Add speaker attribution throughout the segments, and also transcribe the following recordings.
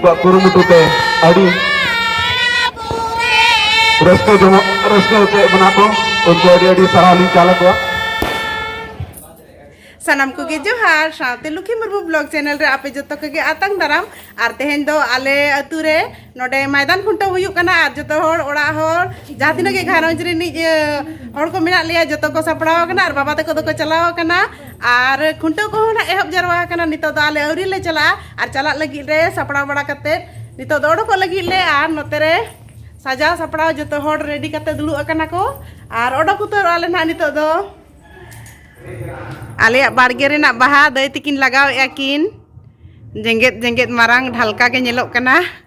Speaker 1: ᱠᱚᱣᱟᱜ ᱠᱩᱨᱩᱢᱩᱴᱩ ᱛᱮ ᱟᱹᱰᱤ ᱨᱟᱹᱥᱠᱟᱹ ᱡᱚᱢᱚᱜ ᱨᱟᱹᱥᱠᱟᱹ ᱦᱚᱪᱚᱭᱮᱫ ᱵᱚᱱᱟ ᱠᱚ ᱩᱱᱠᱩ ᱟᱹᱰᱤ ᱟᱹᱰᱤ ᱥᱟᱨᱦᱟᱣ ᱞᱤᱧ ᱪᱟᱞ ᱟᱠᱚᱣᱟ ᱥᱟᱱᱟᱢ ᱠᱚᱜᱮ ᱡᱚᱦᱟᱨ ᱥᱟᱶᱛᱮ ᱞᱩᱠᱷᱤ ᱢᱩᱨᱢᱩ ᱵᱞᱚᱜ ᱪᱮᱱᱮᱞ ᱨᱮ ᱟᱯᱮ ᱡᱚᱛᱚ ᱠᱚᱜᱮ ᱟᱛᱟᱝ ᱫᱟᱨᱟᱢ ᱟᱨ ᱛᱮᱦᱮᱧ ᱫᱚ ᱟᱞᱮ ᱟᱹᱛᱩ ᱨᱮ ᱱᱚᱰᱮ ᱢᱟᱭᱫᱟᱱ ᱠᱷᱩᱱᱴᱟᱹᱣ ᱦᱩᱭᱩᱜ ᱠᱟᱱᱟ ᱟᱨ ᱡᱚᱛᱚ ᱦᱚᱲ ᱚᱲᱟᱜ ᱦᱚᱲ ᱡᱟᱦᱟᱸ ᱛᱤᱱᱟᱹᱜ ᱜᱮ ᱜᱷᱟᱨᱚᱸᱡᱽ ᱨᱤᱱᱤᱡ ᱦᱚᱲ ᱠᱚ ᱢᱮᱱᱟᱜ ᱞᱮᱭᱟ ᱡᱚᱛᱚ ᱠᱚ ᱥᱟᱯᱲᱟᱣ ᱟᱠᱟᱱᱟ ᱟᱨ ᱵᱟᱵᱟ ᱛᱟᱠᱚ ᱫᱚᱠᱚ ᱪᱟᱞᱟᱣ ᱟᱠᱟᱱᱟ ᱟᱨ ᱠᱷᱩᱱᱴᱟᱹᱣ ᱠᱚᱦᱚᱸ ᱱᱟᱜ ᱮᱦᱚᱵ ᱡᱟᱨᱣᱟ ᱟᱠᱟᱱᱟ ᱱᱤᱛᱚᱜ ᱫᱚ ᱟᱞᱮ ᱟᱹᱣᱨᱤ ᱞᱮ ᱪᱟᱞᱟᱜᱼᱟ ᱟᱨ ᱪᱟᱞᱟᱜ ᱞᱟᱹᱜᱤᱫ ᱨᱮ ᱥᱟᱯᱲᱟᱣ ᱵᱟᱲᱟ ᱠᱟᱛᱮ ᱱᱤᱛᱚᱜ ᱫᱚ ᱚᱰᱚᱠᱚᱜ ᱞᱟᱹᱜᱤᱫ ᱞᱮ ᱟᱨ ᱱᱚᱛᱮ ᱨᱮ ᱥᱟᱡᱟᱣ ᱥᱟᱯᱲᱟᱣ ᱡᱚᱛᱚ ᱦᱚᱲ ᱨᱮᱰᱤ ᱠᱟᱛᱮ ᱫᱩᱲᱩᱵ ᱟᱠᱟᱱᱟ ᱠᱚ ᱟᱨ ᱚᱰᱚᱠ ᱩᱛᱟᱹᱨᱚᱜ ᱟᱞᱮ ᱱᱟᱦᱟᱜ ᱱᱤᱛᱚᱜ ᱫᱚ ᱟᱞᱮᱭᱟᱜ ᱵᱟᱲᱜᱮ ᱨᱮᱱᱟᱜ ᱵᱟᱦᱟ ᱫᱟᱹᱭ ᱛᱤᱠᱤᱱ ᱞᱟᱜᱟᱣᱮᱜᱼᱟ ᱠᱤᱱ ᱡᱮᱜᱮᱫ ᱡᱮᱜᱮᱫ ᱢᱟᱨᱟᱝ ᱰᱷᱟᱞᱠᱟ ᱜᱮ ᱧᱮᱞᱚᱜ ᱠᱟᱱᱟ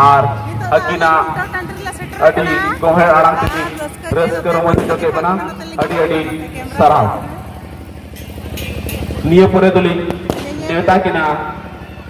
Speaker 1: ᱟᱨ ᱟᱹᱠᱤᱱᱟᱜ ᱟᱹᱰᱤ ᱜᱚᱦᱮᱲ ᱟᱲᱟᱝ ᱛᱮᱜᱮ ᱨᱟᱹᱥᱠᱟᱹ ᱨᱚᱢᱚᱡᱽ ᱦᱚᱪᱚ ᱠᱮᱫ ᱵᱚᱱᱟ ᱟᱹᱰᱤ ᱟᱹᱰᱤ ᱥᱟᱨᱦᱟᱣ ᱱᱤᱭᱟᱹ ᱯᱚᱨᱮ ᱫᱚᱞᱤᱧ ᱱᱮᱣᱛᱟ ᱠᱤᱱᱟ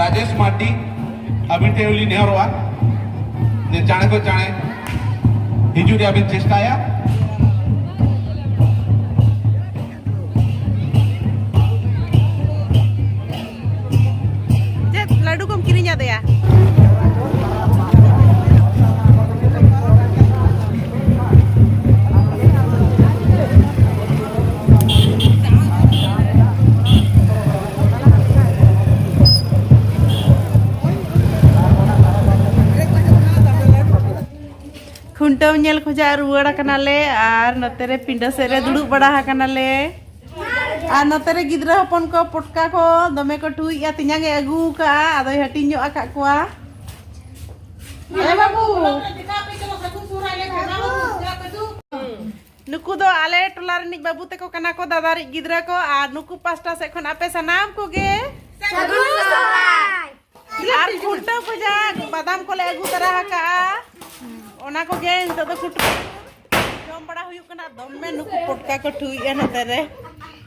Speaker 1: ᱨᱟᱡᱮᱥ ᱢᱟᱨᱰᱤ ᱟᱹᱵᱤᱱ ᱴᱷᱮᱱ ᱞᱤᱧ ᱱᱮᱦᱚᱨᱚᱜᱼᱟ ᱡᱮ ᱪᱟᱬᱮ ᱠᱚ ᱪᱟᱬᱮ ᱦᱤᱡᱩᱜ ᱨᱮᱭᱟᱜ ᱵᱤᱱ ᱪᱮᱥᱴᱟᱭᱟ ᱠᱷᱩᱱᱴᱟᱹᱣ ᱧᱮᱞ ᱠᱷᱚᱡᱟᱜ ᱨᱩᱣᱟᱹᱲ ᱟᱠᱟᱱᱟᱞᱮ ᱟᱨ ᱱᱚᱛᱮ ᱨᱮ ᱯᱤᱸᱰᱟᱹ ᱥᱮᱫ ᱨᱮ ᱫᱩᱲᱩᱵ ᱵᱟᱲᱟ ᱟᱠᱟᱱᱟᱞᱮ ᱟᱨ ᱱᱚᱛᱮ ᱨᱮ ᱜᱤᱫᱽᱨᱟᱹ ᱦᱚᱯᱚᱱ ᱠᱚ ᱯᱚᱴᱠᱟ ᱠᱚ ᱫᱚᱢᱮ ᱠᱚ ᱴᱩᱭᱮᱜᱼᱟ ᱛᱮᱧᱟᱝ ᱮ ᱟᱹᱜᱩ ᱟᱠᱟᱫᱼᱟ ᱟᱫᱚᱭ ᱦᱟᱹᱴᱤᱧ ᱧᱚᱜ ᱟᱠᱟᱫ ᱠᱚᱣᱟ ᱱᱩᱠᱩ ᱫᱚ ᱟᱞᱮ ᱴᱚᱞᱟ ᱨᱤᱱᱤᱡ ᱵᱟᱹᱵᱩ ᱛᱮᱠᱚ ᱠᱟᱱᱟ ᱠᱚ ᱫᱟᱫᱟ ᱨᱤᱡ ᱜᱤᱫᱽᱨᱟᱹ ᱠᱚ ᱟᱨ ᱱᱩᱠᱩ ᱯᱟᱥᱴᱟ ᱥᱮᱫ ᱠᱷᱚᱱ ᱟᱯᱮ ᱥᱟᱱᱟᱢ ᱠᱚᱜᱮ ᱟᱨ ᱠᱷᱩᱱᱴᱟᱹᱣ ᱠᱷᱚᱡᱟᱜ ᱵᱟᱫᱟᱢ ᱠᱚᱞᱮ ᱟᱹᱜᱩ ᱛᱟᱨᱟ ᱟᱠᱟᱜᱼᱟ ᱚᱱᱟ ᱠᱚᱜᱮ ᱱᱤᱛᱚᱜ ᱫᱚ ᱠᱷᱩᱱᱴᱟᱹᱣ ᱡᱚᱢ ᱵᱟᱲᱟ ᱦᱩᱭᱩᱜ ᱠᱟᱱᱟ ᱫᱚᱢᱮ ᱱᱩᱠᱩ ᱯᱚᱴᱠᱟ ᱠᱚ ᱴᱷᱩᱭᱮᱜᱼᱟ ᱱᱚᱛᱮ ᱨᱮ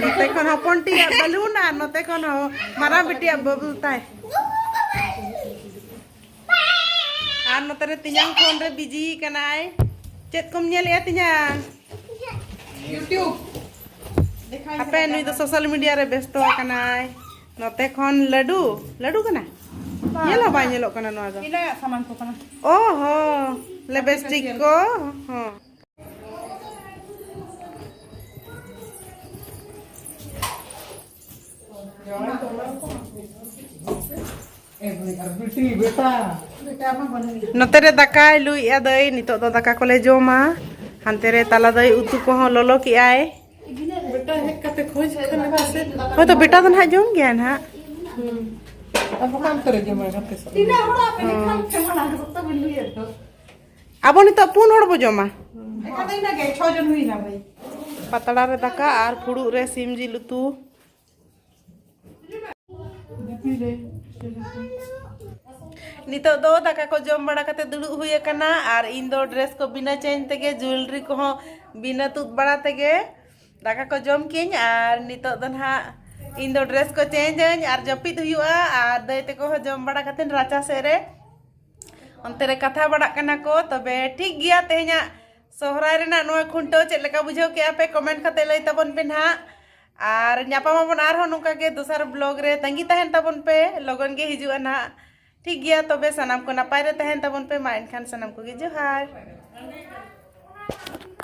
Speaker 1: ᱱᱚᱛᱮ ᱠᱷᱚᱱ ᱦᱚᱯᱚᱱ ᱴᱤᱭᱟᱜ ᱵᱟᱞᱩᱱ ᱟᱨ ᱱᱚᱛᱮ ᱠᱷᱚᱱ ᱢᱟᱨᱟᱝ ᱵᱤᱴᱤᱭᱟᱜ ᱵᱟᱵᱩᱞ ᱛᱟᱭ ᱟᱨ ᱱᱚᱛᱮ ᱨᱮ ᱛᱤᱧᱟᱝ ᱯᱷᱳᱱ ᱨᱮ ᱵᱤᱡᱤ ᱠᱟᱱᱟᱭ ᱪᱮᱫ ᱠᱚᱢ ᱧᱮᱞᱮᱜᱼᱟ ᱛᱤᱧᱟᱝ ᱤᱭᱩᱴᱤᱭᱩᱵᱽ ᱟᱯᱮ ᱱᱩᱭ ᱫᱚ ᱥᱳᱥᱟᱞ ᱢᱤᱰᱤᱭᱟ ᱨᱮ ᱵᱮᱥᱛᱚ ᱟᱠᱟᱱᱟᱭ ᱱᱚᱛᱮ ᱠᱷᱚᱱ ᱞᱟᱹᱰᱩ ᱞᱟᱹᱰᱩ ᱠᱟᱱᱟ ᱧᱮᱞ ᱦᱚᱸ ᱵᱟᱭ ᱧᱮᱞᱚᱜ ᱠᱟᱱᱟ ᱱᱚᱣᱟ ᱫᱚ ᱤᱱᱟᱹ ᱥᱟᱢᱟᱱ ᱠᱚ ᱠᱟᱱᱟ ᱚ ᱦᱚ ᱞᱮᱵᱮᱥᱴᱤᱠ ᱠᱚ ᱦᱚᱸ ᱱᱚᱛᱮ ᱨᱮ ᱫᱟᱠᱟᱭ ᱞᱩᱭᱮᱜᱼᱟ ᱫᱟᱹᱭ ᱱᱤᱛᱚᱜ ᱫᱚ ᱫᱟᱠᱟ ᱠᱚᱞᱮ ᱡᱚᱢᱟ ᱦᱟᱱᱛᱮ ᱨᱮ ᱛᱟᱞᱟ ᱫᱟᱹᱭ ᱩᱛᱩ ᱠᱚᱦᱚᱸ ᱞᱚᱞᱚ ᱠᱮᱜᱼᱟᱭ ᱦᱳᱭ ᱛᱚ ᱵᱮᱴᱟ ᱫᱚ ᱱᱟᱦᱟᱜ ᱡᱚᱢ ᱜᱮᱭᱟ ᱱᱟᱦᱟᱜ ᱟᱵᱚ ᱱᱤᱛᱚᱜ ᱯᱩᱱ ᱦᱚᱲ ᱵᱚ ᱡᱚᱢᱟ ᱯᱟᱛᱲᱟ ᱨᱮ ᱫᱟᱠᱟ ᱟᱨ ᱯᱷᱩᱲᱩᱜ ᱨᱮ ᱥᱤᱢ ᱡᱤᱞ ᱩᱛᱩ ᱱᱤᱛᱚᱜ ᱫᱚ ᱫᱟᱠᱟ ᱠᱚ ᱡᱚᱢ ᱵᱟᱲᱟ ᱠᱟᱛᱮ ᱫᱩᱲᱩᱵ ᱦᱩᱭ ᱟᱠᱟᱱᱟ ᱟᱨ ᱤᱧ ᱫᱚ ᱰᱨᱮᱥ ᱠᱚ ᱵᱤᱱᱟᱹ ᱪᱮᱧᱡᱽ ᱛᱮᱜᱮ ᱡᱩᱭᱮᱞᱨᱤ ᱠᱚᱦᱚᱸ ᱵᱤᱱᱟᱹ ᱛᱩᱫ ᱵᱟᱲᱟ ᱛᱮᱜᱮ ᱫᱟᱠᱟ ᱠᱚ ᱡᱚᱢ ᱠᱤᱧ ᱟᱨ ᱱᱤᱛᱚᱜ ᱫᱚ ᱱᱟᱦᱟᱜ ᱤᱧ ᱫᱚ ᱰᱨᱮᱥ ᱠᱚ ᱪᱮᱧᱡᱽ ᱟᱹᱧ ᱟᱨ ᱡᱟᱹᱯᱤᱫ ᱦᱩᱭᱩᱜᱼᱟ ᱟᱨ ᱫᱟᱹᱭ ᱛᱮᱠᱚ ᱦᱚᱸ ᱡᱚᱢ ᱵᱟᱲᱟ ᱠᱟᱛᱮ ᱨᱟᱪᱟ ᱥᱮᱫ ᱨᱮ ᱚᱱᱛᱮ ᱨᱮ ᱠᱟᱛᱷᱟ ᱵᱟᱲᱟᱜ ᱠᱟᱱᱟ ᱠᱚ ᱛᱚᱵᱮ ᱴᱷᱤᱠ ᱜᱮᱭᱟ ᱛᱮᱦᱮᱧᱟᱜ ᱥᱚᱦᱨᱟᱭ ᱨᱮᱱᱟᱜ ᱱᱚᱣᱟ ᱠᱷᱩᱱᱴᱟᱹᱣ ᱪᱮᱫ ᱞᱮᱠᱟ ᱵᱩᱡᱷᱟᱹᱣ ᱠᱮᱜᱼᱟ ᱯᱮ ᱠᱚᱢᱮᱱᱴ ᱠᱟᱛᱮ ᱞᱟᱹᱭ ᱛᱟᱵᱚᱱ ᱯᱮ ᱱᱟᱦᱟᱜ ᱟᱨ ᱧᱟᱯᱟᱢᱟᱵᱚᱱ ᱟᱨᱦᱚᱸ ᱱᱚᱝᱠᱟ ᱜᱮ ᱫᱚᱥᱟᱨ ᱵᱞᱚᱜ ᱨᱮ ᱛᱟᱺᱜᱤ ᱛᱟᱦᱮᱱ ᱛᱟᱵᱚᱱ ᱯᱮ ᱞᱚᱜᱚᱱ ᱜᱮ ᱦᱤᱡᱩᱜᱼᱟ ᱱᱟᱦᱟᱜ ᱴᱷᱤᱠ ᱜᱮᱭᱟ ᱛᱚᱵᱮ ᱥᱟᱱᱟᱢ ᱠᱚ ᱱᱟᱯᱟᱭ ᱨᱮ ᱛᱟᱦᱮᱱ ᱛᱟᱵᱚᱱ ᱯᱮ ᱢᱟ ᱮᱱᱠᱷᱟᱱ ᱥᱟᱱᱟᱢ ᱠᱚᱜᱮ ᱡᱚᱦᱟᱨ